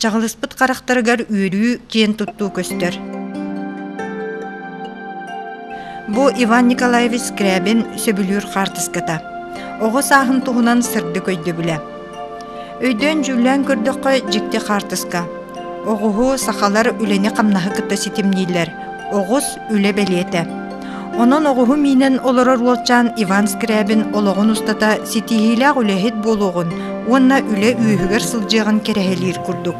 Чаҕылыспыт харахтарыгар үөрүү киэн туттуу көстөр. Бу Иван Николаевич Скрябин сөбүлүүр хаартыската. Оҕо сааһын туһунан сырдык өйдөбүлэ. Өйдөөн дьүүллээн көрдөххө дьикти хаартыска. Оҕуһу сахалар үлэни-хамнаһы кытта ситимнииллэр. Оҕус үлэ бэлиэтэ. Онон оҕуһу миинэн олорор уолчаан Иван Скрябин олоҕун устата ситиһиилээх үлэһит буолуоҕун уонна үлэ үөһүгэр сылдьыаҕын кэрэһэлиир курдук.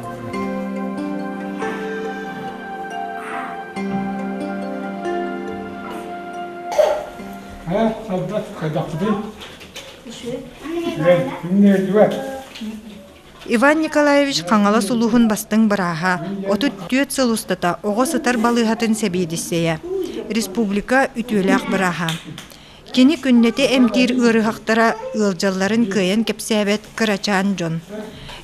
Ха, сарда, хайдахпытын? Үчүгэй. Үчүгэй. Күн нердүе. Иван Николаевич Хаҥалас улууһун бастыҥ бырааһа, отут түөрт сыл устата оҕо сытар балыыһатын сэбиэдиссэйэ, республика үтүөлээх бырааһа. Кини күннэтэ эмтиир ыарыһахтара ыалдьалларын кыайан кэпсээбэт кырачаан дьон.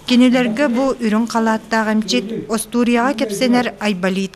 Кинилэргэ бу үрүҥ халааттаах эмчит, остуоруйаҕа кэпсэнэр Айболит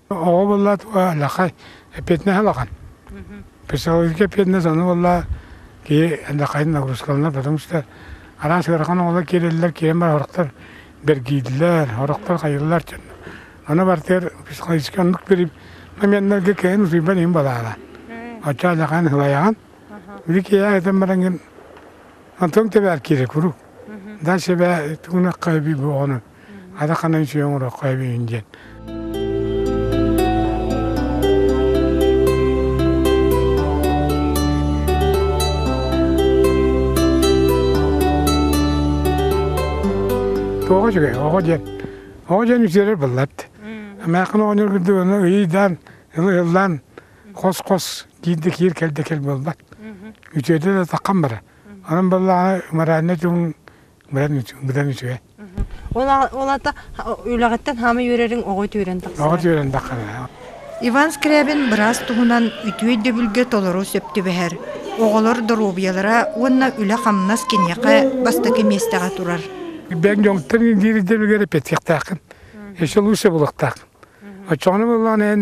Оҕо буолла алахан, эппиэтинэс алахан. Психологическай эппиэтинэс ону буолла киһи алакайын нагрузкаланар, потому что араас ыарахан оҕолор киирэллэр, киирэн баран орохтор бэргииллэр, орохтор хайыыллар дьон. Аны барытыгар психологическай оннук бириим моменнарга киһин утуйбан иһин балаана. Оччо алакайын хылайаҕын. Били киһи айтан бараҥын, антон тэбээр киирэ курук. Да себе тугунакка би буоҕуну. ата ханан сүөҥ ороххо эбиин диэн Тоҕо үчүгэй, оҕо диэн. Оҕо диэн үсүөрэр быллат. Амаакын оҕонньор кырдыгына ыйыйдаан, ыллаан, хос-хос диирде киир кэлде кэл буолбат. Үтүөтэ да таққан бара. Онон баллаана моральный түгүн Быдан үчүгэй, быдан үчүгэй. Ол ата үлэҕиттэн хаама үөрэриҥ оҕо түөрэн тахсар. Оҕо түөрэн тахсар. Иван Скрябин быраас туһунан үтүө өйдөбүлгэ толору сөп түбэһэр. Оҕолор доруобуйалара уонна үлэ-хамнас киниэхэ бастакы миэстэҕэ турар. Бэйэҥ дьоҥтон диир өйдөбүлгэр эппиэттиэхтээххин. Еще лучше булуохтааххын. Оччоҕуна буоллаҕына эн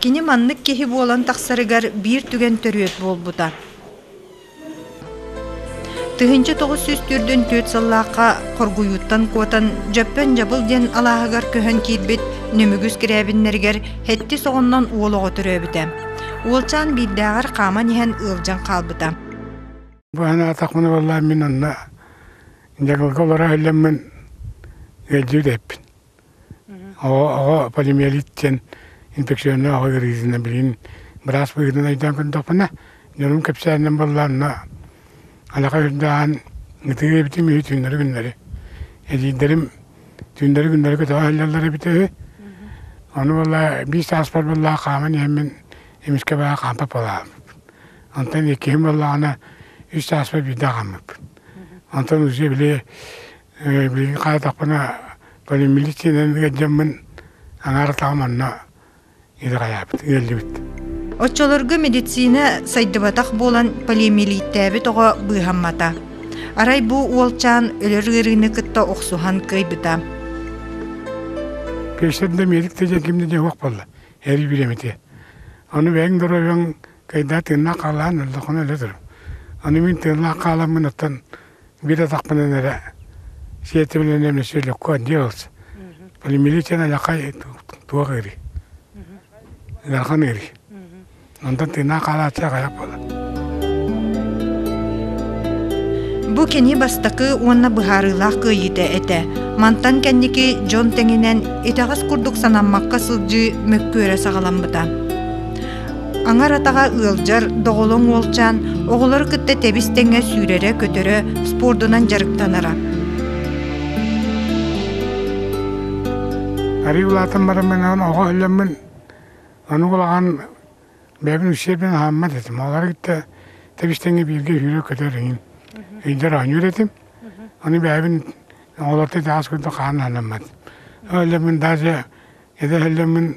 Кини маннык киһи буолан тахсарыгар биир түгэн төрүөт буолбута. Тыһыынча тоҕус сүүс төрдүн түөрт сыллаахха хоргуйууттан куотан Дьөппөн Дьабыл диэн алааһыгар көһөн киирбит Нөмүгүс Кирээбиннэригэр һэттис оҕоннон уол оҕо төрөөбүтэ. Уолчаан биирдээҕэр хааман иһэн ыалдьан хаалбыта. Бу анаатахпына баллаан мин онно Дьагылга олоро иһиллэммин ыалдьыы дэппин. Аҕа полимиелит диэн инфекционнай аҕа ыарыытына билигин быраас быһыытынан өйдөөн көрдөхпүнэ, дьонум кэпсээнинэн буоллаанна алаха үрдээн ытыы эбитим үһү түүннэри күннэри. Эдиийдэрим түүннэри күннэри көтөҕө иһэллэр эбитэ үһү. Ону буолла биир сааспар буолла хааман иһэммин эмискэ баҕа хаампа палаабыппын. Онтон иккиһим буоллаҕына үс сааспар биирдэ хааммыппын. Онтон уже били Билигин харатахпына полимилициянан ыалдьаммын аҥаар атаҕым онно итэҕэйээбит, ыалдьыбыт. Оччолорго медицина сайдыбатах буолан полиэмилииттээбит оҕо быыһаммата. Арай бу уолчаан өлөр ыарыыны кытта охсуһан кыайбыта. Кэстэн да медик да дьэн ким да дьэ уох буолла. Эр билэмити. Ону бэйэҥ доройоҥ кайда тыыннаах хаалаан өлдөхүнэ өлө турум. Аны мин тыыннаах хааламмын оттон Биир атахпынан эрэ сиэтибинэн эмиэ сүөлүккэ делс полимилитен алякай туох ыри ыарахан ыри онтон тыынаа хаалааччы аҕыйах буолар Бу кини бастакы уонна быһаарыылаах кыайыыта этэ. Мантан кэнники дьон тэҥинэн итэҕэс курдук санаммакка сылдьыы мөккүөрэ саҕаламмыта. Аҥар атаҕа ыалдьар доҕолоҥ уолчаан оҕолору кытта тэбис-тэҥэ сүүрэрэ-көтөрө, спордунан дьарыктанара. Арыы улаатан бараммынаан оҕо өллөммүн, ону улахан бэйэбин усердien аһаммат этим. Олары кытта тэбис-тэҥэ бииргэ сүүрэр-көтөр эҥин. Ыйдар оонньуур этим. Ону бэйэбин оҕолорто итаҕас курдук хаан аһанаммат. Өллөммүн даже эдэ өллөммүн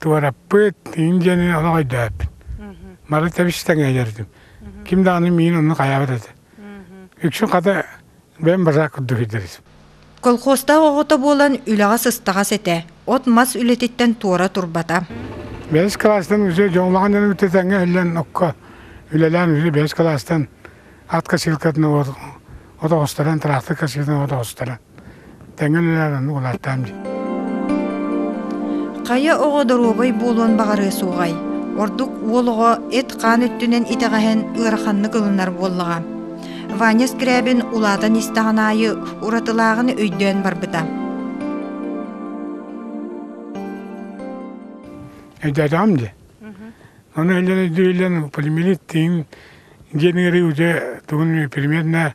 Туораппыт иин диэни олоҕойдөөппүн. Бары тэбис-тэҥэ иһэрдим. Ким даҕаны миин онно хайаабат этэ. Үксүн хата бэйэм базар курдук ирдэбитим. Колхозтаах оҕото буолан үлэҕэ сыстаҕас этэ. От-мас үлэтиттэн туора турбата. Бэс кылаастан үсүө дьоҥлоҕун дьону кытта тэҥҥэ иһиллэн окко үлэлээн үсүө бэс кылаастан ат косилкатын от оҕустаран, тыраахтык косилкатын от оҕустаран. Хайа оҕо доруобай буолуон баҕарыа суоҕай. Ордук уол оҕо эт-хаан өттүнэн итэҕэһэн ыараханнык ылынар буоллаҕа. Ваня Скрябин улаатан истэҕин аайы уратылааҕын өйдөөн барбыта. Эдэтам де. Оно ele duyulan полимерит тин генеры уже тугун примерно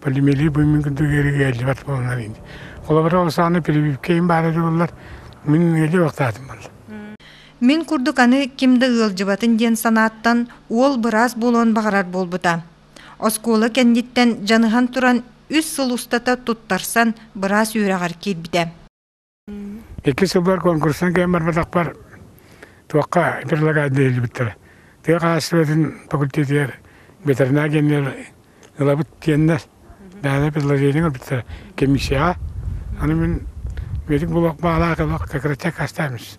полимелии быымын курдук эргиэллибэт буоланнар ини. Холобура ол сааны прививкэйин баара дылыллар, мин ыали бактаатым бар. Мин курдук аны ким да ыалдьыбатын диэн санааттан уол быраас буолуон баҕарар буолбута. Оскуола кэнниттэн дьаныһан туран үс сыл устата туттарсан быраас үөрэҕэр киирбитэ. Икки сылбар конкурстан кэлэн барбатахпар туохха предлагаардыыллыбыттара. Тыа хаһаайыстыбатын факультетыгар ветеринар генерал ылабыт диэннэр даана предложение ылбыттара комиссияҕа. Аны мин медик булуох баалаах ылах как раз чек астаамис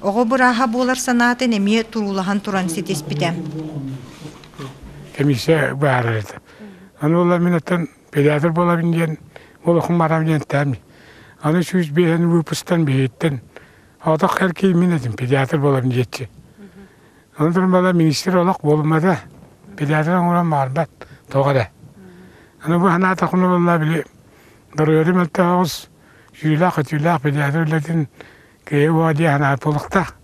Оҕо бырааһа буолар санаатын эмиэ туруулаһан туран ситиспитэ. Комиссия баара этэ. Аны ол мин оттон педиатр буолабын диэн олохум барам диэн таами. Аны сүүс биэһин выпустан биһиттэн отох эр киин мин этим педиатр буолабын диэччи. Аны туран бала министр олох буолмада. Педиатр оҥорон маарбат тоҕо эрэ. Аны бу санаата хонулла били доруйадым мөлтөҕүс сүүлээх-өтүүлээх педиатр үлэтин Киһи уо дии санаат буолуохтаах.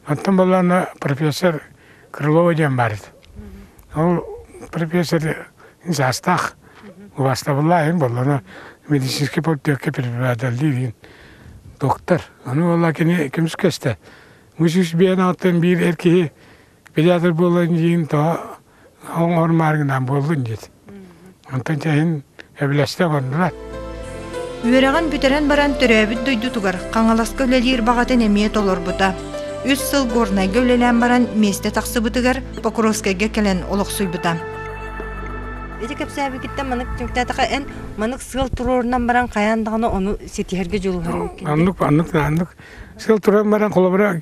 Оттон буоллаҕына профессор Крылова диэн баар эбит. Ол профессор саастаах убаастабыллаах иһин буоллаҕына медицинский полтиякка преподавателлиир иһин доктор. Ону буолла кини көмүскэстэ. Бу сүүс биэн алтын биир эр киһи Педиатр буолан диин тоҕо оҥор мааргынаан буоллун диэт. Онтон чэһин эбилэстэ гоннулар. Үөрэҕин бүтэрэн баран төрөөбүт дойдутугар Хаҥаласка үлэлиир баҕатын эмиэ толорбута. Үс сыл Горнайга үлэлээн баран миэстэ тахсыбытыгар Покровскайга кэлэн олохсуйбута. Ити кэпсээбикиттэн манык түмүктээтэхэ эн манык сыал туруорунан баран хайаан даҕаны ону ситиһэргэ дьулуһар. Аннык аннык аннык сыал туран баран холобура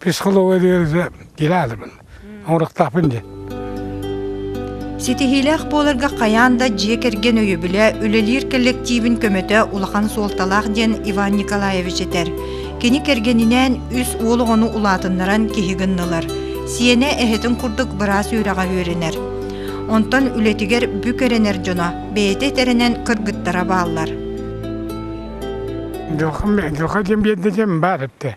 Психология диэри килаатыбын, оҥорохтоохпун дии. Ситиһиилээх буоларга хайаан да дьиэ кэргэн өйөбүлэ үлэлиир кэллэктиибин көмөтө улахан суолталаах диэн Иван Николаевич этэр. Кини кэргэнинээн үс уол оҕону улаатыннаран киһи гыннылар. Сиэнэ эһэтин курдук быраас үөрэҕэ үөрэнэр. Онтон үлэтигэр бүк эрэнэр дьоно бэйэтэ этэринэн кыргыттара бааллар. Дьылҕа диэн биэрдэ диэн баар эттэ.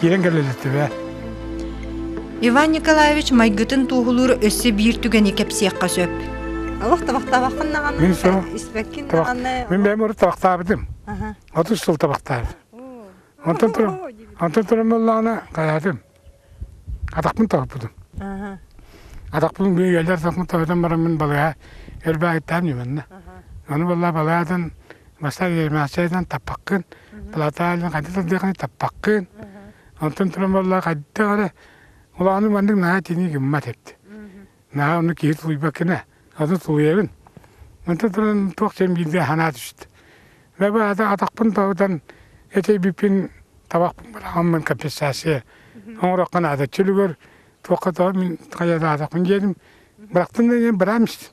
Киирэн кэлэллиттибэ. Иван Николаевич майгытын туоһулуур өссө биир түгэни кэпсиэххэ сөп. Олох табахтаабаккын даҕаны, Мин то- испэккин табах- даҕаны. Мин бэйэм ыры табахтаабытым. Аха. Отут сыл табахтаабыт. Онтон туран онтон туран буоллаҕына хайаатым. Атахпын тоһуппутум. Аха. Атахпын үөллэр атахпын тоһутан баран мин балыга эр баайтаан үмэннэ. Аны буолла балыгатын бастаан ермээччитэн таппаккын, Платалин хайдах тардыаххыный таппаккын. Онтон туран буолла хайдах эрэ улаанын маннык наһаа итинии гыммат эбит. Наһаа ону киһи тулуйбаккына аны тулуйабын. Онтон туран туох дьон биирдэ санаа түстэ. Лаба атахпын тоһутан этэйбиппин табахпын быраҕаммын компенсация оҥороххо наада чөлүгэр туохха тоһо мин хайаатаатахпын диэтим. Бырахтым да диэн быраамс.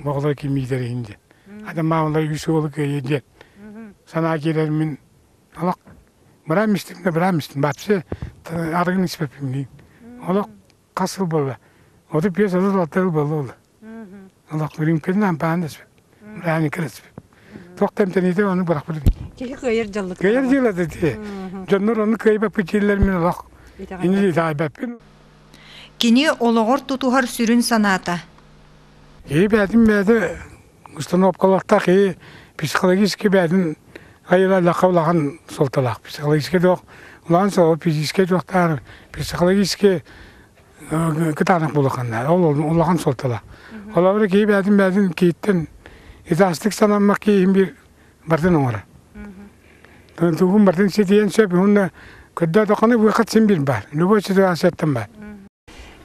Баҕалай кимиитэр иһин диэн. Ата маамала үс уолу кыайыы диэн. Санаа киирэр мин олох быраам истим да быраам истим бачча арыгын испэппиҥниин. Олох хас сыл буолла? Оту биэс оту алта сыл буолла ол. Олох үрүҥкүн ампаан да испэп. Бырааны кэрэспэп. Туох тэмтэниитэ ону бырахпыт. Киһи кыайар дьаллык. Кыайар дьыла да дии. Дьоннор ону кыайбаппыт дииллэр мин олох. Ини таайбаппын. Кини олоҕор тутуһар сүрүн санаата. Киһи бэйэтин бэйэтэ установкалаахтаах киһи психологически бэйэтин айылахха улахан суолталаах. Психологически дуох улахан суол физически дуохтаар психологически кытаанах булаханнар. Ол улахан суолталаах. Холобура киһи бэйэтин бэйэтин киһиттэн итаастык санаммак киһин бир бардын оҥоро дугун бардын ситиэн сөп уонна көрдөөтөххүнэ быхат син бир бар любой ситуацияттан бар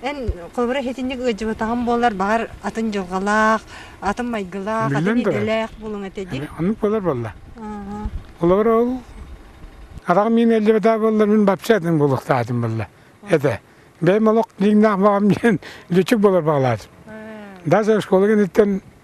эн холбура хитинник ыдьыбатаҕым буоллар баҕар атын дьылҕалаах атын майгылаах атын идэлээх булуҥ этэ дии оннук болар болла олор ол араҕым мин элдебетаа боллар мин бапча атын булуохтаатым болла этэ бэйм олох лиҥнаах баҕам диэн лүчүк болор баҕалаатым даже школа гениттэн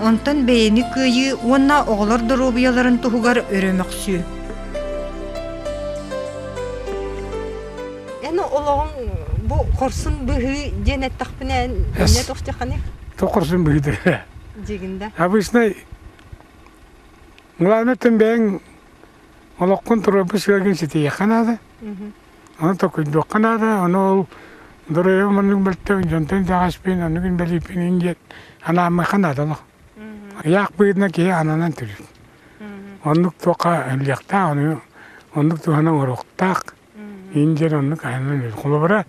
Онтон бэйэни кыайыы уонна оҕолор доруобуйаларын туһугар өрө мөхсүү. Эн олоҕуҥ бу хорсун быһыы диэн эттэхпинэ эмне тохтехани? То хорсун быһыыды. Дегин да. Обычный главное тем бэйэҥ олоххун туруорбут сыаргын ситиехэ наада. Аны токуйдуохха наада, ону ол доруойбам маннык мөлтөг дьонтон итэҕэспин, оннук инбэлииппин ин диэн анааммыха наада олох. Ыйаах быыдына киһи ананан төрүт. Оннук туохха өллүөхтээх, ону оннук туһана оруохтаах. Ин диэн оннук ананан өлөр. Холобура,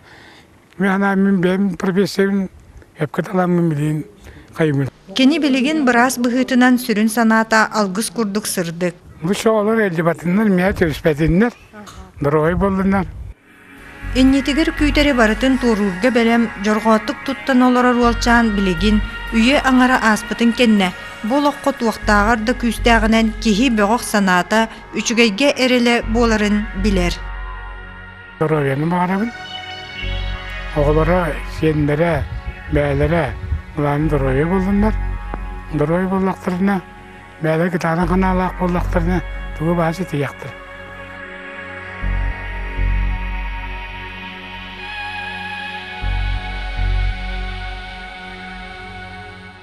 Миэнэ мин бэйэм профессиябын эпкэ таламмын билиин хайымын. Кини билигин быраас быһыытынан сүрүн санаата алгыс курдук сырдык. Бу оҕолор элдибатыннар, миэхэ түбүспэтиннэр, доруобай буоллуннар. Иннитигэр күүтэри барытын туоруурга бэлэм, дьорҕоотук туттан олорор уолчаан билигин үйэ аҥара ааспытын кэннэ бу олоххо туохтааҕар да күүстээҕинэн киһи бөҕөх санаата, үчүгэйгэ эрэлэ буоларын билэр. Доруобуйаны баҕарабын. Оҕолоро, сиэннэрэ, бэйэлэрэ былааны доруобуйа буллуннар. Доруобуйа буллахтарына, бэйэлэр гитаранан ханаалаах буоллахтарына, тугу баһа ситиһиэхтэр.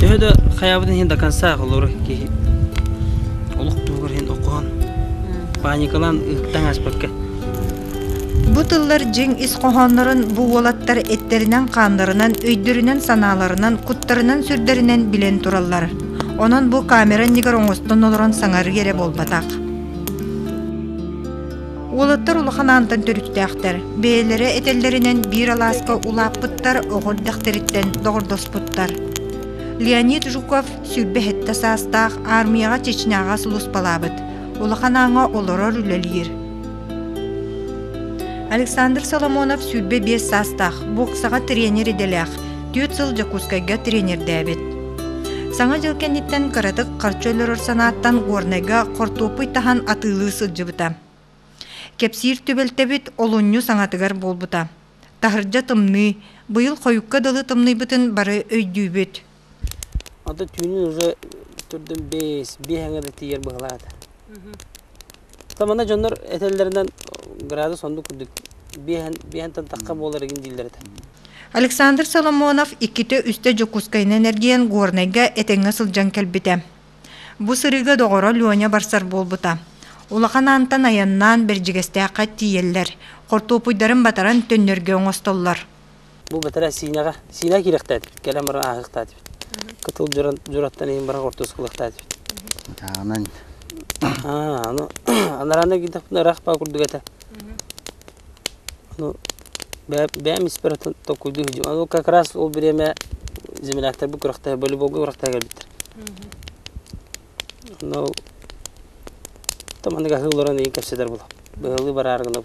Төһө да хайабытын иһин дакансаах олор киһи олох туһугар иһин окоон паникалаан ыттан ааспакка Бу тыллар дьиҥ ис хоһооннорун бу уолаттар эттэринэн-хааннарынан, өйдөрүнэн-санааларынан, куттарынан сүрдэринэн билэн тураллар. Онон бу камера иннигэр оҥостон олорон саҥарыы эрэ буолбатах. Уолаттар улахан аантан төрүттээхтэр. Бэйэлэрэ этэллэринэн биир алааска улааппыттар оҕо эрдэхтэриттэн доҕордоспуттар. Леонид Жуков сүүрбэ сэттэ саастаах аармыйаҕа Чечняҕа сулуспалаабыт. Улахан ааҥа олорор үлэлиир. Александр Соломонов сүүрбэ биэс саастаах, боксаҕа тренер идэлээх. Түөрт сыл Дьокуускайга тренердээбит. Саҥа дьыл кэнниттэн кыратык харчы өлөрөр санааттан Горнайга хортуоппуй таһан атыылыы сылдьыбыта. Кэпсиир түбэлтэбит олунньу саҥатыгар буолбута. Таһырдьа тымныы, быйыл хойукка дылы тымныйбытын бары өйдүүбүт. Ата түүнүн уже төрдүн бэс, биэһэҥэ да тиийэр быһылаата. То манна дьоннор этэллэринэн градус оннук курдук биэһэн биэһэнтэн тахха буолар игин дииллэр этэ. Александр Соломонов иккитэ-үстэ Дьокуускайынан эргийэн Горнайга этэҥҥэ сылдьан кэлбитэ. Бу сырыыга доҕоро Леня барсар буолбута. Улахан аантан айаннаан Бэрдьигэстээххэ тиийэллэр. Хортуопуйдарын батаран төннөргө оҥостоллор. Бу бэтэрээ Синяга. Синяга киирэхтээт, кэлэн баран ааһыахтаат эбит. Кытыл дьураттан иһин баран ортосулахтаат эбит. Атааҕынан Аа, аны анарана китэхпинэ ыраах паа курдук этэ. Ну, бэйэм испэр атын tokkуйду хидьим. Аны как раз ол время земляктар бу күрэхтэһэ волейболга күрэхтэһэ кэлбиттэр. Аны ол там аныга хыылларан иин кэпсэтэр була. Быһылыы бараар гына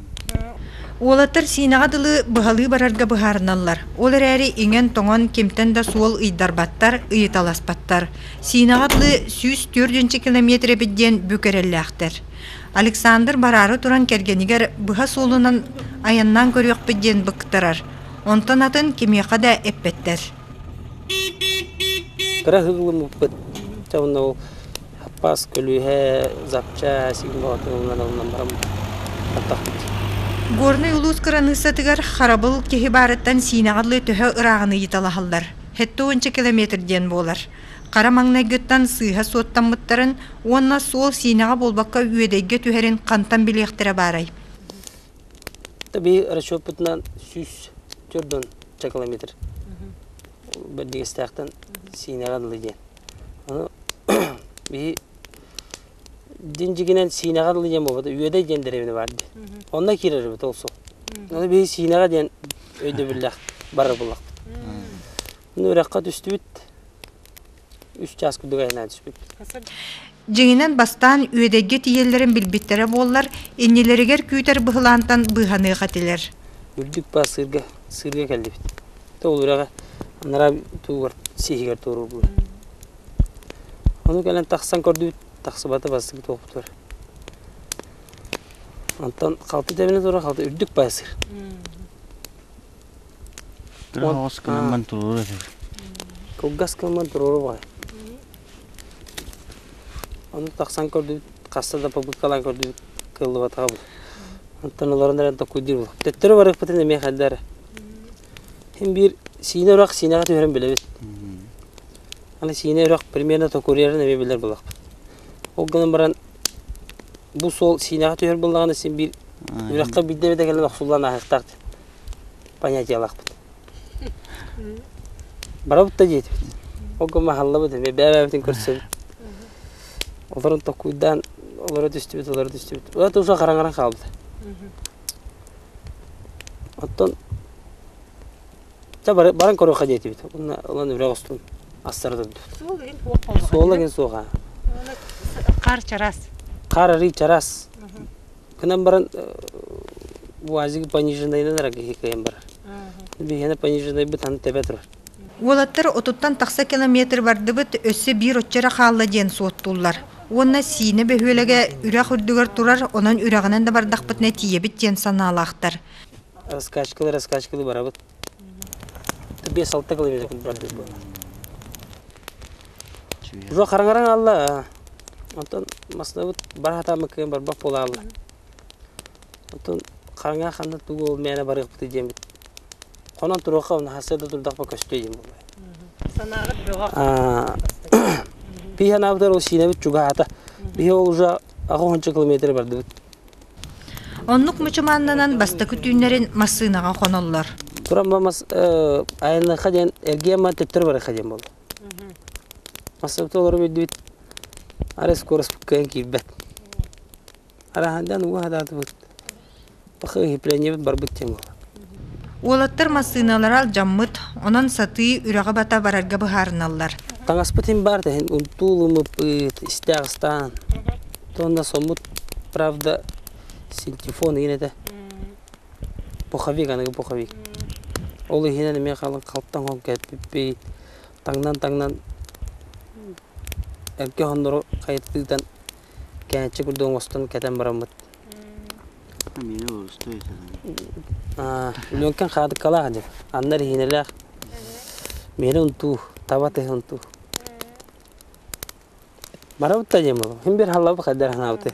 Уолаттар Сиинэҕэ дылы быһалыы барарга быһаарыналлар. Ол эрээри иҥэн-тоҥон кимтэн да суол ыйдарбаттар, ыйыталаспаттар. Сиинэҕэ дылы сүүс түөртүнчэ километр эбит диэн бүк эрэллээхтэр. Александр бараары туран кэргэнигэр быһа суолунан айаннаан көрүөхпүт диэн быктарар. Онтон атын кимиэхэ да эппэттэр. Кыра ыһыллыммыппыт. Дьэ онно ол Аппаас көлүөһэ Запча Сиҥ Боотуруҥҥа налынан баран бардахпыт Горнай улуус кыраныыссатыгар харабыл киһи баарыттан Сиинэҕэ дылы төһө ырааҕын ыйыталаһаллар (сэттэ уонча километр диэн буолар) хара маҥнайгыттан сыыһа суоттаммыттарын уонна суол Сиинэҕэ буолбакка Үөдэйгэ түһэрин хантан билиэхтэрэ баарай Эбии расчеппытынан сүүс төрт уон километр бэрдигэстээхтэн Сиинэҕэ дылы диэн Биһи дьин дьигинэн сиинэҕэ дылы диэн буолбата Үөдэй диэн дэриэбинэ баар дии. Онно киирэрбит ол сыл. Аны биһи сиинэҕэ диэн өйдөбүллээх барар буоллахпыт. Аны үрэххэ түстүбүт. Үс чаас курдук айаннаан түспүт. Дьиҥинэн, бастаан Үөдэйгэ тиийэллэрин билбиттэрэ буоллар, иннилэригэр күүтэр быһылаантан быыһаныах этилэр. Үрдүк баас сыырга, сыырга кэллибит. То ол үрэҕэ анараа туугар сиһигэр туоруурбут. Ону кэлэн тахсан көрдүбүт, тахсыбата бастык туоппутугар. Онтон халты тэбинэ тура халты үрдүк баас сыр. Оҕус кымамман туруор этим. Кылгас кымамман туруору бай. Ону тахсан көрдүбүт, хаста да побыткалаан көрдүбүт, кыллыбатаҕабыт. Оттон олорон эрэн токкуйдуур булук. Төттөрү барыахпытын эмиэ хайда эрэ. Син биир сиинэ үрэх сиинэҕэ түһэрэн билэбит. Аны сиинэ үрэх примерно токуруйарын эмиэ билэр булахпыт. Ол гынан баран бу суол сиинэҕэ түһэр буоллаҕына син биир үрэххэ биирдэ эбэтэ кэлэн охсуллан аһыахтаахтын. понятиялаахпыт барабыт да диэтибит олго маһаллабыт эми бэбэбитин көрсөбүт олорон токкуйдаан олоро түстүбүт олоро түстүбүт ыла туса хараҥаран хаалбыта оттон та баран көрүөххэ диэтибит уонна ылан үрэх устун астара турдубут суола кин суоха хаар чарас хаар арый чарас Кынан баран УАЗик пониженайынан эрэ киһи кыайан барар. Биһиэнэ пониженайбыт аны тэбэ турар. Уолаттар отуттан тахса километр бардыбыт, өссө биир оччо эрэ хаалла диэн суоттууллар. Уонна Сиинэ бөһүөлэгэ үрэх үрдүгэр турар, онон үрэҕинэн да бардахпытына тиийэбит диэн санаалаахтар. Раскачкалыы раскачкалыы барабыт. Биэс-алта километр бардыбыт буолла. Уже хараҥараҥ аалла. Онтон маслабыт бара сатааммыт кыһын барбах буолаалла. Оттон хараҥа ханна тугу ол мээнэ барыахпытый диэммит. Хонон туруохха, наһарсыа да турдахпына көстүө диэн буолуо. Санааҕыт бөҕөх. Пии санаабытыгар ол сиинэбит чугаһаата. Биһи ол уже аҕыһынча километр бардыбыт. Оннук мучумааннанан бастакы түүннэрин массыынаҕа хоноллор. Туран ба мас айанныахха диэн эргиэн ма төттөрү барыахха диэн буолуо. Бастакыта олору билдибит, арай скороспуккайан киирбэт. Арааһындан уга сатаатыбыт, барбыт диэн буолар. Уолаттар массыыналара алдьаммыт, онон сатыы үрэҕи бата барарга быһаарыналлар. Таҥаспытын баар тэһин унтуулуммуппут, истээх ыстаан, туонна соммут, правда, синтефон иин этэ. Пуховик, аныгы пуховик. Ол иһинэн эмиэ халыҥ халтаҥ холку эппиппит. Таҥнан-таҥнан эргэ оһоннору хайытытыытан кээччи курдук оҥостон кэтэн бараммыт. Миэнэ уолустой аа Лүөҥкэн хаадыкалаах дьэ, аннар иһиинэлээх. Миэнэ унтуу, таба тыһы унтуу. Барабыт да дьэ, хин бир халлабы хайдар ханаабыты.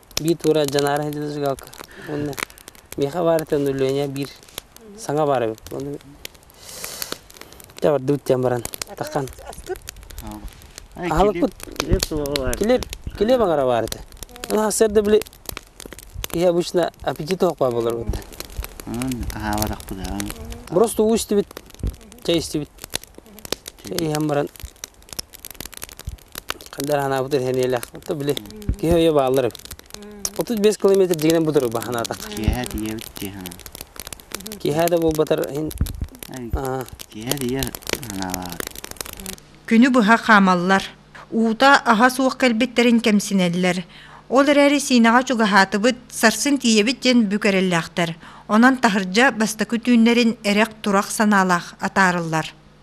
биир туура дьанаара сылдьыбыта сыгыалка уонна миэхэ баарыттан Өлүөнэ биир саҥа баар эбит уону дьэ бардыбыт диэн баран таххан аһалыкпыт килиэп килиэп аҥара баарыта аны сарда били киһи обычно аппетит оһох баа болор бутта просто уу истибит чай истибит иһэн баран Хайдах санаабыт сэниэлээх. Ото били киһи өйө бааллар эбит. 35 километр дьигинэн будуруруба санаатах. Киэһэ тиийэбит дии санаабыт. Киэһэ да буолбатар иһин аа, Киэһэ тиийэ санаалаабыт. Күнү быһа хаамаллар. Уута аһа суох кэлбиттэрин кэмсинэллэр. Ол эрээри Сиинэҕэ чугаһаатыбыт, сарсын тиийэбит диэн бүк эрэллээхтэр. Онон таһырдьа бастакы түүннэрин эрэх-турах санаалаах атаарыллар.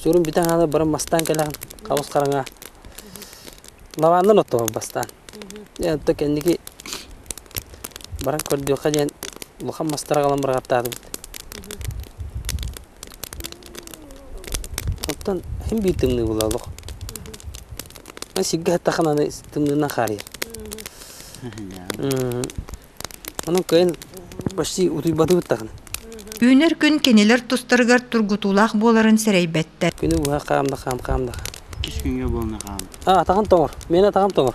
Сүрүн бүтэн аана баран бастаан кэлэн хаҕыс хараҥа лаваннан оттоһор бастаан. Дьэ онто кэнники баран көрдүөххэ диэн улахан мастары аҕалан быраҕаттаатыбыт. Оттон иһин биир тымныы була олох. Аны сиргэ эттэххинэ аны тымныынан хаарыйар. Онон кыайан почти утуйбатыы быттаҕын. Үүнэр күн кинилэр тустарыгар тургутуулаах буоларын сэрэйбэттэр. Күнү быһа хаам да хаам хаам да хаам. Иккис күҥҥэ буолна хаам. А атаҕын тоҥор. Миэнэ атаҕым тоҥор.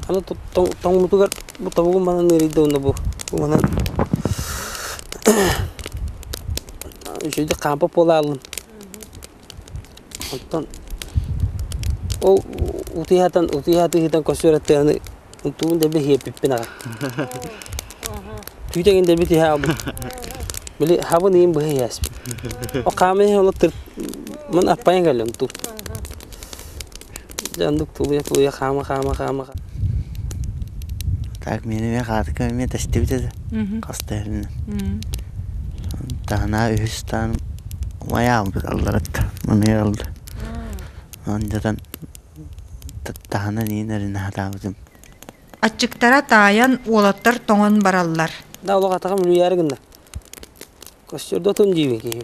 Аны тоҥуутугар бу тобугум манан ыарыйда уонна бу бу манан үчүгэйдик хаампа буолааллын. Оттон ол утуйаатан утуйаатыһыытан көстүөрэттээҕини тугун да билэ иэппиппин аҕай түүтэгин да бит иһэ аҕабыт били хабан иин быһа иһээспит ол хааман иһэн ол мин аппайан кэллим ту Дьэ оннук тулуйа-тулуйа хаама-хаама-хаама Так мин эмиэ хаатыкам эмиэ тэстибитэ да мм хаста эрэнэн мм таһынаа үһүс таһын умайа хаалбыт алларакка маныйа алда андьатан таһына ниин эрэнэ сатаабытым аччыктара таайан уолаттар тоҥон бараллар да олох атаҕым үлүйээри гынна костюрда отун диибин киһи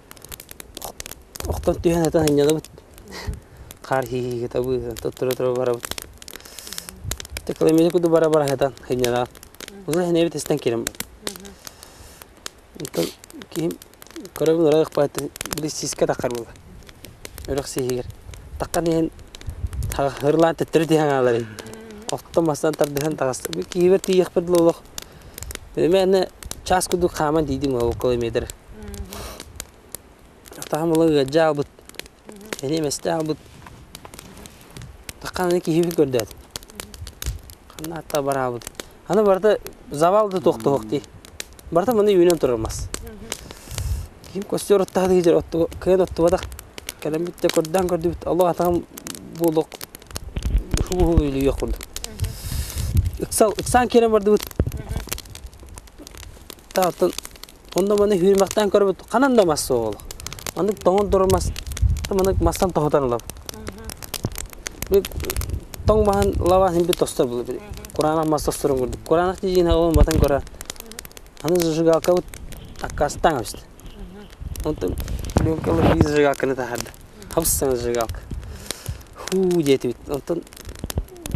Охтон түһэн ытан анньынабыт, хаар хииһиигитэ быыһыан, туттура-тура барабыт. Тыкламены курдук бара-бара сытан анньынаҕын. Быһа инэбит истэн киирэн барбыт. Оттон киһим көрөбүн ыраах ыкпааттан били сиискэ таххар буолар. Үрэх сииһигэр. Таххан иһэн һырлаан төттөрү тиһэн хаалар ини. Охтон мастан тардыһан таҕыста. Киһибэр тиийиэхпэр дылы олох Эмиэнэ час курдук хааман диидим ол километр. Тахам ыла ыалдьа аалбыт, эниэм эсте аалбыт. Таххан аны киһибит көрдөөт. Ханна атта бар аалбыт. Аны барыта завал да тохтоһук дии. Барыта маны үүнэн турар мас. Киһим көстөр оттоһон иһдьэр кыйан оттубатах кэлэн бүттэ көрдөөн көрдүбүт олох атаҕым буолуох шубуһу үлүйүөх курдук ыксаан киирэн бардыбыт таатан онно маны үүрмэхтээн көрбүт ханан да мас суох олох маннык тоҥон турар мас маннык мастан тоһутан ылабыт тоҥ маһын лабаатын бит тостор кураанах мас тосторун курдук кураанах тиийиинэ ол батан көрө Аны зажигалкабыт аккаастаҥабыт. Онтон пленкалар биир зажигалканы таһаарда. Хабыстана зажигалка. Хуу диэтибит. Онтон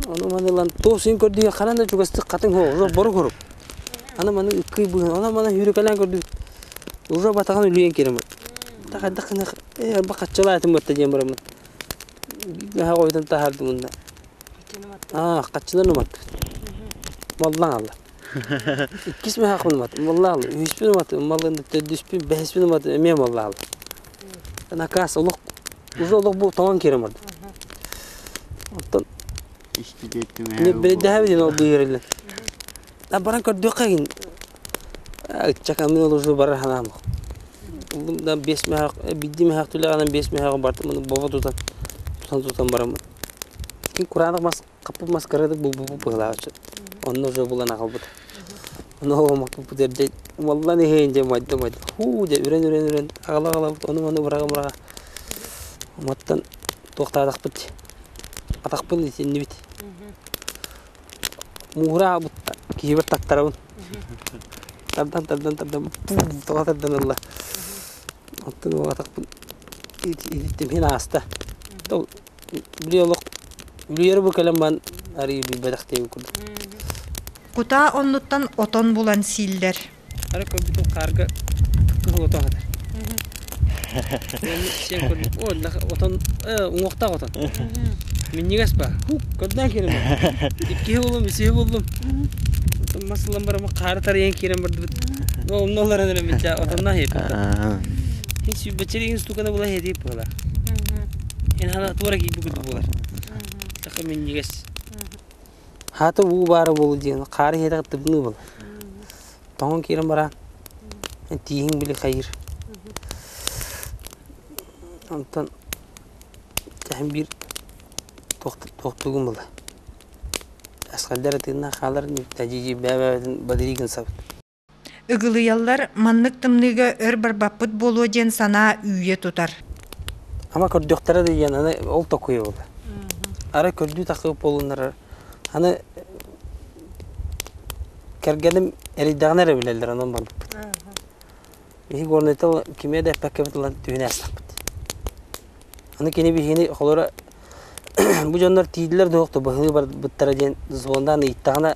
ону маны ылан туох син көрдүгүн ханан да чугастык хатыҥ хоһ уже борук хорук. Аны маны ыккый быһын, онон маны үүрүкэлээн көрдүбүт. Уже батаҕын үлүйэн киирэммит. Да хайдах гына э арба хаччалаатым батта диэн бараммыт. Гаһа койдун таһаардым мунна. Хааччыны баттым. Аа, хаччыларын уматтыбыт. Маллаан алла. Иккис мехакпын уматым валлаһы. Үһүспүн уматым маллыны төрдүспүн бэһиспин уматым эмиэ валлаһы. Накаас олох уже олох бу тоҥон киирэн барда. Оттон бирэйдэһэбит диэн ол быыһырыллан. Да баран көрдүөххэ гин ыччакамын ол уже барар санаам ох. Булдум да биэс мехак бидди мехак түлэҕинэн биэс мехагы бардым аны бобо тутан тутан тутан бараммын. Кин кураанах мас Хаппыт маскарадык булбуппут быһылааччы. Онно уже булан аҕалбыт. Ону оҕомохтуппут эрдэ умаллан иһэйин дьэ умайда умайда. Һуу дьэ үрэн үрэн үрэн аҕала аҕалабыт ону ону быраҕа быраҕа. Уматтан туохтаатахпыт атахпын итиннибит. Муура аабытта киһибэр тактарабын. Тардан тардан тардан тоҕо тардан ылла. Оттон уол атахпын ититтим иһин ааста. Били олох үлүйэрэ бу кэлэн баран арыый билбэтэхтиин курдук. Кутаа оннуттан отон булан сииллэр. Ара көрбүтүм хаарга кыһыл отон атар. Уонна сиэн көрдүм, о, нах отон, э, уҥуохтаах отон. Минньигэс ба, хук, көрдөөн киирэн бар. Иккиһи буллум, үсүһү буллум. Оттон мас ылан барамын хаары тарыйан киирэн бардыбыт. Ол умна олорон эрэ мичча отоннаа хиэтиппэ. Хин сүүбэччэри ин стуканы була хиэтип була. Эн хана туора киирбит курдук буолар. Саха минньигэс. Хата уу баара буолу диэн хаары иһэтэх тыбыныы бол. Тоҥон киирэн бараан тииһиҥ били хайыр. Онтон эһэм биир тохтугум була. Асхалдар атыыннаах хаалар дьидьи бэбэбэтин бадригын сабыт. Ыгылыйаллар, маннык тымныыга өр барбаппыт буолуо диэн санаа үүйэ тутар. Ама көрдөхтөрө да диэн аны ол токуйабыт. Ара көрдүү тахыып болуннарар. Аны кэргэним эрийдэҕинэ эрэ билэллэр онон барбыппыт. Биһи горнайта кимиэ да эппэккэбит ылан түһүнэ астаппыт. Аны кини биһини холоро бу дьоннор тиийдилэр да охто быһыы барбыттара диэн звондаан ыйыттаҕына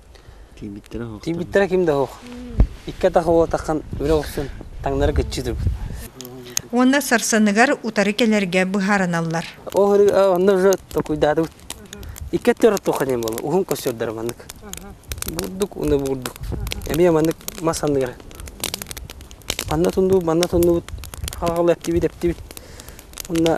Тиийбиттэрэ суох. Тиийбиттэрэ ким да суох. Икки атах уотахан үлэ охсун таҥнары кыччы турбут. Уонна сарсыныгар утары кэлэргэ быһаарыналлар. Ол онно же такуйдаатыбыт. Икки төрөт тоқанем болу. Уһун көсөрдөрө маннык. Бурдук уны бурдук. Эми маннык мас анныгар. Манна тунду, манна тундубут. Хаҕалы эптибит эптибит. Онна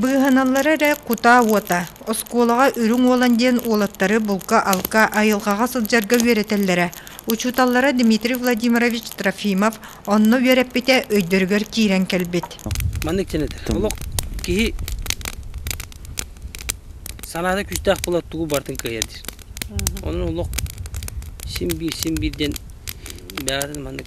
Быыһаналлара эрэ кутаа уота, оскуолаҕа Үрүҥ Уолан диэн уолаттары булка-алка айылҕаҕа сылдьарга үөрэтэллэрэ. Учууталлара Дмитрий Владимирович Трофимов онно үөрэппитэ өйдөрүгэр киирэн кэлбит. Маннык сэнэтэр. Олох киһи санаата күүстээх буолар тугу барытын кыайар диир. Онон олох син биир син биир диэн бэҕэһэтин маннык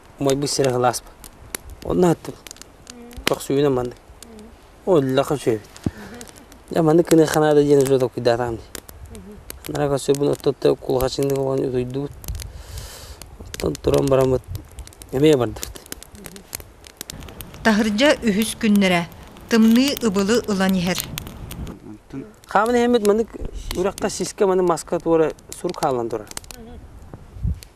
Умайбыт сирэ ылааспын. Онно аттым. Көхсүбүнэ маннык. Ол иллэхэ үчүгэйбит. Дьэ маннык гыныахха наада диэн уже толкуйдаатаҕым дии. Анараа көхсүбүн отто-отто кулахачыннык уган утуйдубут. Оттон туран бараммыт эмиэ бардыбыт. Таһырдьа үһүс күннэрэ тымныы ыбылы ылан иһэр. Хааман иһэммит маннык үрэххэ сиискэ маны маска туора сурук хаалан турар.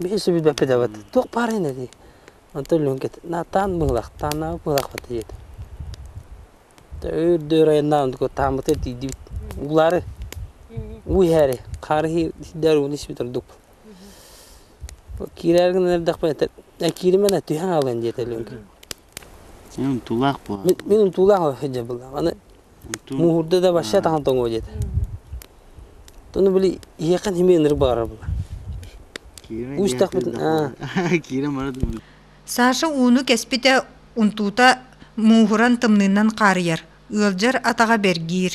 Биир сөбүлэппит эбит туох баарыйын эдий онтон өлүөн кэт таан быһылах тааннаабыт быһылахпыт диэти өр-дөр айаннаан онтуку тааммыта тиийдибит уулаары уу иһээри хаары иһиир сирдээри ууну исбит ордукпут киирээри гынан эрдэхпинэ кииримэ түһэн хаалыан диэтэ өлүөҥкэ Мин унтуулаах буолан. Мин унтуулаах оһдьа былаах. Аны мууһурда да вообще тахан тоҥуо диэтэ. Тону били ийэхэн химиэ ынырык баҕарар була. Саша ууну кэспитэ унтуута мууһуран тымныынан хаарыйар, ыалдьар атаҕа бэргиир.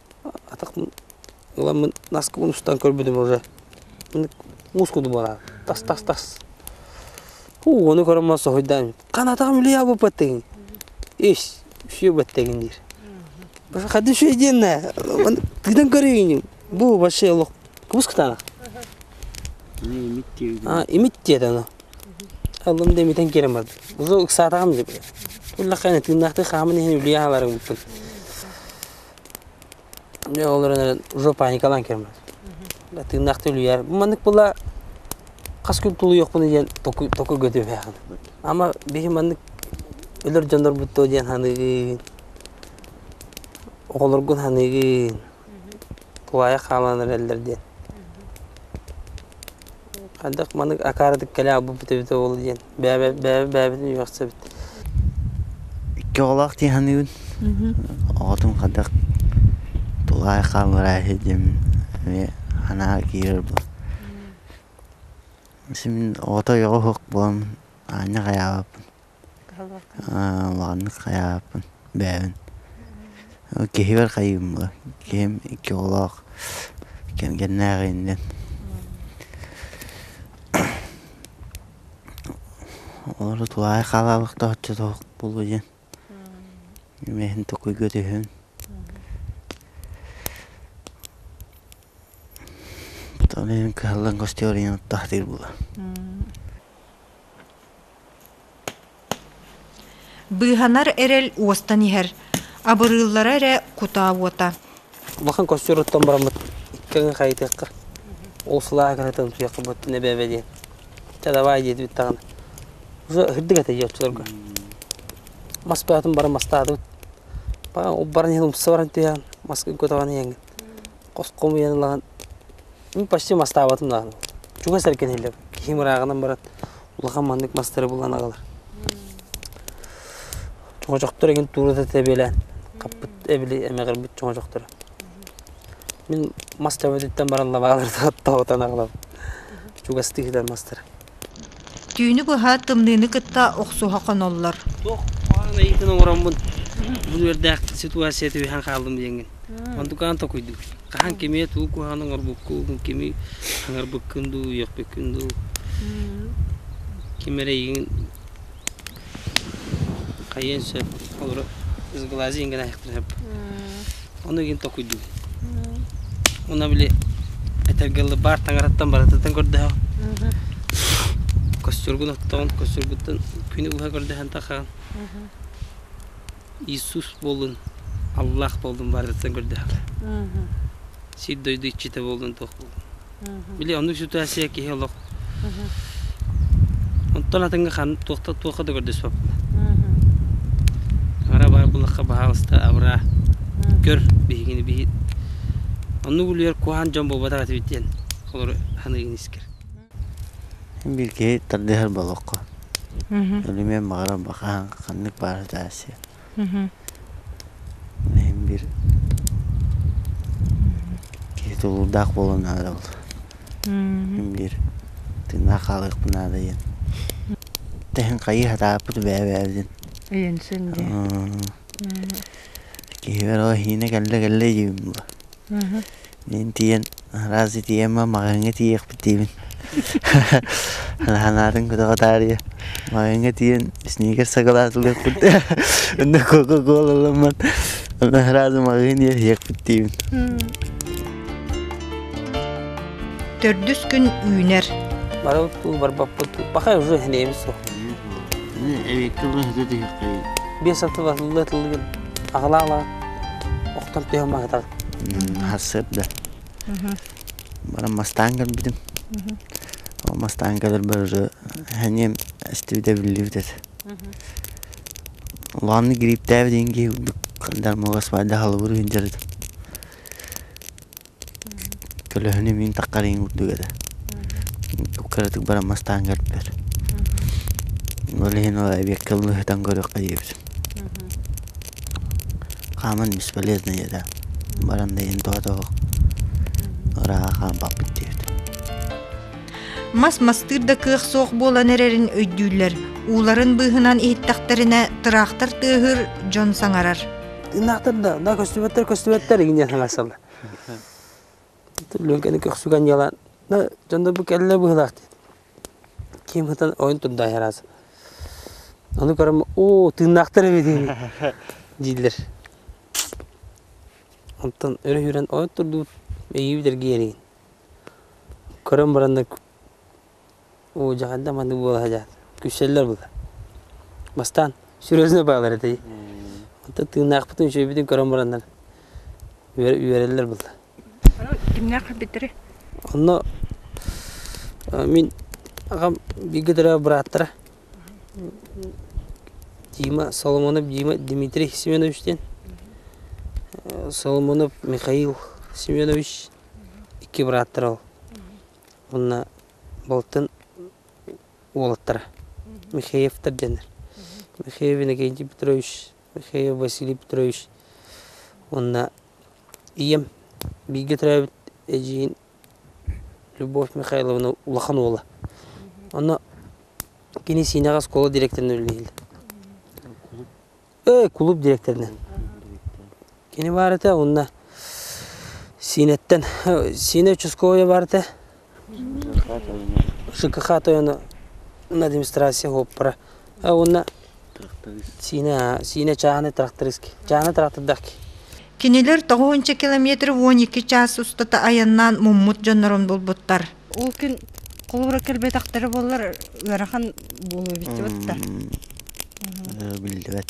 атахпын ыламмын наскыбын устан көрбүтүм уже мускул дубара тас тас тас уу ону көрөн баран соһуйдам канатаҕым үлүйэ буоппаттыгын ис все баттыгын диир проходи сведение тыынан көрейін бу вообще олох кыбыс кытана имит тиет аны аллым демитен керем барды уже ыксаатаҕым деп туллаххайна тыыннаахтыы хаамын иһин үлүйэ хааларым буппут Дьэ ол эрэн жопа Николай Кермас. Да тыыннаахтыы үлүйэр. Маннык була хас күн тулуйуохпун диэн току токуйга түһээхин. Ама биһи маннык өлөр дьоннорбут дуо диэн саныыгын. Оҕолоргун саныыгын. Куһаайах хаалан эрэллэр диэн. Хайдах маннык акаарадык кэлэ албыппыт эбитэ буолуо диэн бэйэбэ бэйэбэ бэйэбитин үөхсэбит Икки оҕолоох дии саныыбын. Оҕотун хайдах тулаай хаалларайһы диэмин эмиэ санаа киирэр буол Син оҕото ойоҕо суох буолан аанньа хайаабаппын Улаҕаннык хайаабыппын бэйэбин киһибэр хайыыммыла киһим икки оҕолоох кэргэннээх иннин олору тулаайах хаалаабахтааччы суох буолуо диэн имиэхин токуйга түһүн потом кыһаллан гостевой оройуон оттаатыыр буолуо Быыһанар эрэл уостан иһэр, абырыыллара эрэ кутаа уота. Улахан костер оттон бараммыт кэҥэ хайытыахха. Ол сылаа гынатын утуйахха буттун эбэбэ диэн. Ча давай диэтибит даҕаны. Уса ыһырдык этэ дьиотчуларга. Мас баатын баран мастаатыбыт. Баҕа ол баран иһин умса баран түһээн маска үккутаҕын иэҥҥин. Хоском уйан ылаҕын. Мин почти мастаабатым даҕаны. Чугас эркин иһиллэр. Киһим ырааҕынан баран улахан маннык мастары булан аҕалар. Чоҥочохтор egin туурата тэбиэлээн хаппыт эбили эмэҕирбит чоҥочохторо. Мин мас төбөтүттэн баран лабааларга таҕытан аҕалабын. Чугастык итэр мастары. Түүнү быһа тымныыны кытта охсуһа хоноллор. Туох хаан эйгитин оҥороммун бу үөрдээхтик ситуация түһэн хааллым диэҥҥин. Онтукаан токуйдум. Хаһан кимиэт уу куһаан оҥорбуккун, кими аҥарбыккын дуу, үөхпүккүн дуу, ким эрэйиҥин хайыан сөп, олору изглазиҥ гына айахтарым. Ону игин токуйдум. Уна били этэргэ ылы баар таҥараттан барытыттан көрдөһөҕүн. Костюргун оттоҕун, костюргуттан күнү быһа көрдөһөн тахаҕын. Иисус буоллун, Аллаах буоллун барытын көрдөһөҕө. Сир дойду иччитэ буоллун туох буоллун. Били оннук ситуация киһи олох Онтон атыҥҥа ханна туохта туохха да көрдөспөппүнэ. Аҥара баар булахха баһаалыста абыраа. Көр биһигини биһи. Оннук үлүгэр куһаан дьон буолбатах этибит диэн олору саныыгын искэр. Бииргэ тардыһар болуокка өлүмүөн баҕарар хаһан ханнык баара дьаарсыа иһин биир киһи тулуурдаах буолуо наада ол мин биир тыыннаах хаалыахпын наада диэн тэһин хайыы сатаабыппыт бэйэ бэйэбит диэн иһинсин дии киһибэр ол иһинэ кэллэ кэллэ диибин буо Мин тиийэн араас итийэмэ маҕаһыыҥҥа тиийиэхпит диибин санаатын көтөҕө таарыйа маҕаһыыҥҥа тиийэн сникерс сакалаатылыахпыт онно кока кола ылыммат онно сразу маҕаһыын иэһиэхпит диибин төрдүс күн үүнэр барыбыт барбаппыт пока уже эбит суох эбикки бу сытыххай биэс аты батылла тылыгын Аҕылаала охтор түһүм аһытар. Сыр да. Баран мастаан көрбүтүм. Ол мастаан көрөрбөр эниэм эстибит эбиллибит этэ. Улааннык грибтээбит иин киһи курдук дармога свайда халыбыр үһүн дьарытым. Көлөһүнү мин таххар иһин курдук эрэ кыратык баран мастаан көрдүлэр ол иһин ол эбиэккэ лыыһытан көрүөххэ диэбитим хааман бесполезная да баран да иһин тоҕотоҕо ырааҕа хаалбаппыт диэбит мас мастыыр да кыах суох буолан эрэрин өйдүүллэр ууларын быыһынан иһиттэхтэринэ тыраахтар тыаһыыр дьон саҥарар ынаахтар да да көстүбэттэр көстүбэттэр игиниэ саҥарсаллар Төлүөкэни көхсүгэн дьалаан да дьоно бу кэллэ быһыылаах диэн киим сытан ойон турдаайараас ону көрөн оо тыыннаахтар эбит ини дииллэр оттон өрө сүүрэн ойон турдубут эйиэбит эргийэригин көрөн баран да Оо, дьэ ханна маннык буола садьаан күлсэллэр була. Бастаан серьезно баалар этэй. Онтон тыыннаахпытын үчүгэйбитин көрөн бараннар үөрэ үөрэллэр була. Кимнээх бүтэри? Онно мин аҕам бииргэ төрөөбүт бырааттара Дима Соломонов Дима Дмитрий Семенович диэн Соломонов Михаил Семенович икки бырааттара ол. уонна балтын уолаттара Михеевтар диэннэр Михеев Иннокентий Петрович Михеев Василий Петрович уонна ийэм бииргэ төрөөбүт эдьиийин Любовь Михайловна улахан уола онно кини сиинэҕэ оскуола дириэктэринэн үлэлиир Ээ, кулууп дириэктэринэн. Кини баарата уонна Сиинэттэн Сиинэ участковайа баарата ЖКХ тойоно на демонстрация уоппара уонна Сиинэ Сиинэ чааһынай трактористки чааһынай трактордахки Кинилэр тоҕуһунча километр уон икки чаас устата айаннаан муммут дьоннорун булбуттар. Ол күн холобура кэлбэтэхтэрэ буоллар ыарахан буолуо биллибэт да. Биллибэт.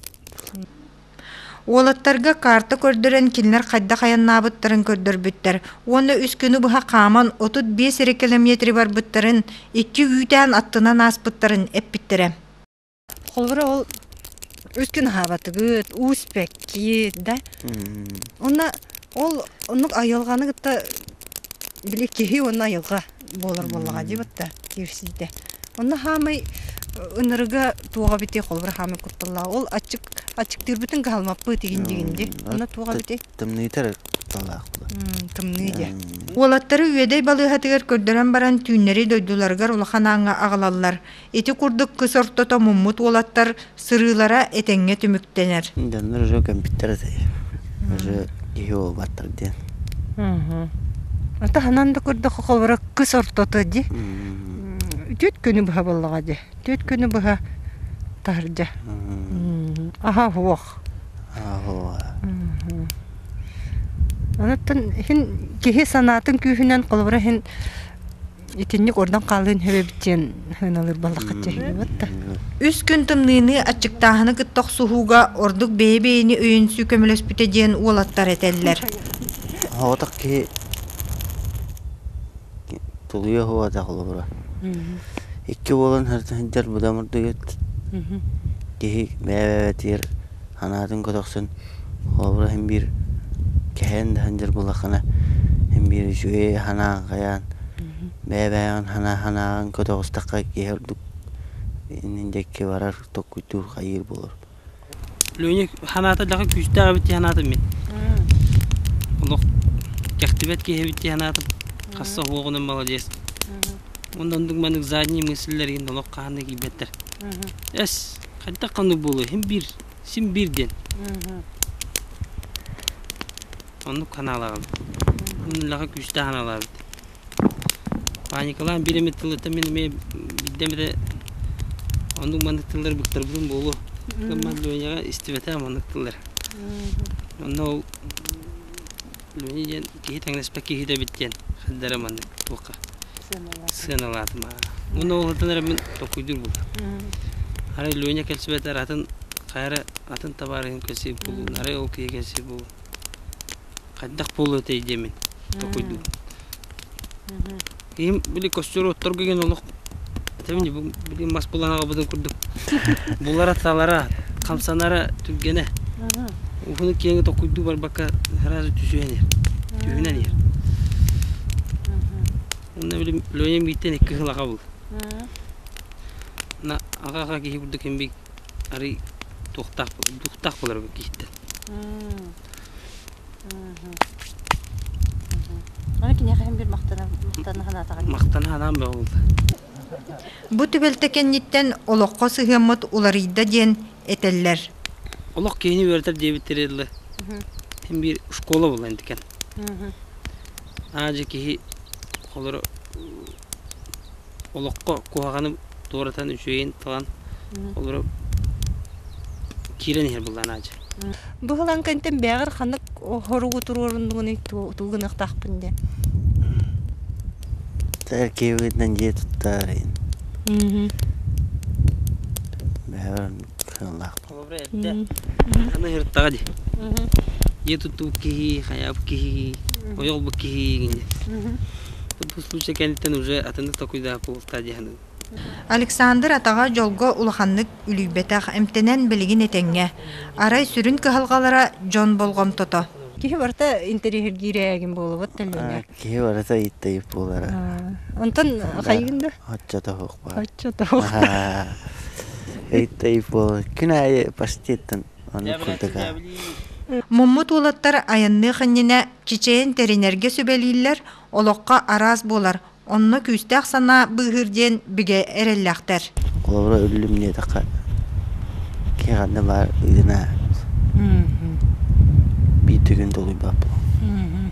Уолаттарга карта көрдөрөн кинилэр хайдах айаннаабыттарын көрдөрбүттэр уонна үс күнү быһа хааман отут биэс эрэ километры барбыттарын икки үүтээн аттынан ааспыттарын эппиттэрэ. Холобура ол үт күн аһаабатыгыт, уу испэккит, да? Уонна ол оннук айылҕаны кытта били киһи уонна айылҕа буолар буоллаҕа дии батта киирсиитэ. Онно хаамай ынырыга туох эбитий холобура хаамай кутталлааҕа ол аччык аччыктыырбытын кыһалмаппыт игин дигинди онно туох эбитий тымныытар кутталлаах буолар тымныы дьэ уолаттары үөдэй балыыһатыгар көрдөрөн баран түүннэри дойдуларыгар улахан ааҥҥа аҕалаллар Ити курдук кыс ортото муммут уолаттар сырыылара этэҥҥэ түмүктэнэр. Дьоннор уже көмпүттэр этэй. Уже киһи уолбаттар диэн. Атаһынан да көрдөх холбора кыс ортото ди. Түт күнү быһа боллаға ди. Түт күнү быһа тахыржа. Аха хуох. Анаттан хин киһи санаатын күүһүнэн холбора хин Итинник ордон хаалыын хөбөбүт диэн хыналыр баллахачча хилибат да. Үс күн тымныыны аччыктааһыны кытта охсуһууга ордук бэйэ-бэйэни өйүнсүү көмөлөспүтэ диэн уолаттар этэллэр. Оһоотох киһи тулуйа оһоотох олобура. Икки уолун сылдьар будам ордугет киһи бэйэ-бэйэтигэр санаатын көтөхсөн холобура иһин биир кэһээн да сылдьар буоллаххына иһин биир үчүгэйи санааҕын хайаан бэйэ-бэйэҕин санаа санааҕын көтөҕүстэххэ киһи ордук иннин дьэкки барар токкуйдуур хайыыр буолар Леня санаата дьаха күүстээх эбит дии санаатым мин олох кэхтибэт киһи эбит дии санаатым хасса оһуоҕунан маладьыас онно оннук маннык задние мысльлэрин олох хаһан да киирбэттэр эс Хантан ханнык буолуо син биир син биир диэн оннук ханаалаҕын улахан күүстээх ханаалаабыт паникалаан биир эмит тылыттан мин эмиэ бирдэм эрэ оннук маннык тыллар быктарбытым буолуо ман Леняҕа истибэтэх маннык тыллар онно ол үлэни диэн киһи тэҥнэспэт киһитэ эбит диэн хайдары маннык туохха сыаналаатым Уонна уолаттан эрэ мин толкуйдуур бултам. Арай Леня кэлсибэтэр атын хайа эрэ атын табаар иһин кэлсиим буолуун. Арай ол киһи кэлсиэ буолуун. Хайдах буолуо этэй диэмин толкуйдуум. Киһим били костер отторго деген олох этэбин бу били мас булан аҕабытын курдук булара-талара, хамсанара түргэнэ. Уһуну киэҥи токуйдуу барбакка сразу түсүөн иһэр. Түһүнэн иһэр. Уонна били Леням биитен икки сыл аҕабыл. На аҕа-аҕа киһи курдук эмбий арый туохтаах дуохтаах булар киһиттэн. Аны киниэхэ хин бир махтана махтана санаатаҕа дии. Махтана санаам бөҕүлдэ. Бу түбэлтэ кэнниттэн олоххо сыһыаммыт уларыйда диэн этэллэр. Олох киһини үөрэтэр диэбиттэрэ дылы. Хин бир школа буолан эткен. Аа дьэ киһи холоро олоххо куһаҕаны туоратан үчүгэйин талан олору киирэн иһэр былаан аадьы быһылаҥкантан бэҕэр ханнык хоругу туруоруннугунуй туу гыныахтаахпын де киһибитинэн дьиэ туттаарыйын бэҕэр Холобура эрдэ аны ырыттаҕа ди. Дьиэ тутуу киһи, хайаабыт киһи, ойоҕбут киһи гинье. Бу случай кэнниттэн уже атыны такуйда култа диһаны. Александр атаҕа дьолго улаханнык үлүйбэтэх, эмтэнэн билигин этэҥҥэ. Арай сүрүн кыһалҕалара дьон болҕомтото. Киһи барыта интэриэһиргиир ээгин буолубут төлүөнэ. Киһи барыта ыйытта буолара. Онтон хайгын да? Оччотоох баар. Оччотоох. Ыйытта буолара. Күн аайы паштеттан аны курдуга. Муммут уолаттар айанныах иннинэ чичэйин тэринэргэ сүбэлииллэр, олоххо араас буолар, онно күүстээх санаа быыһыыр диэн бигэ эрэллээхтэр. Холобура үллүм диэтэххэ киһи баар ыгына биир түгүн долуйбаппын.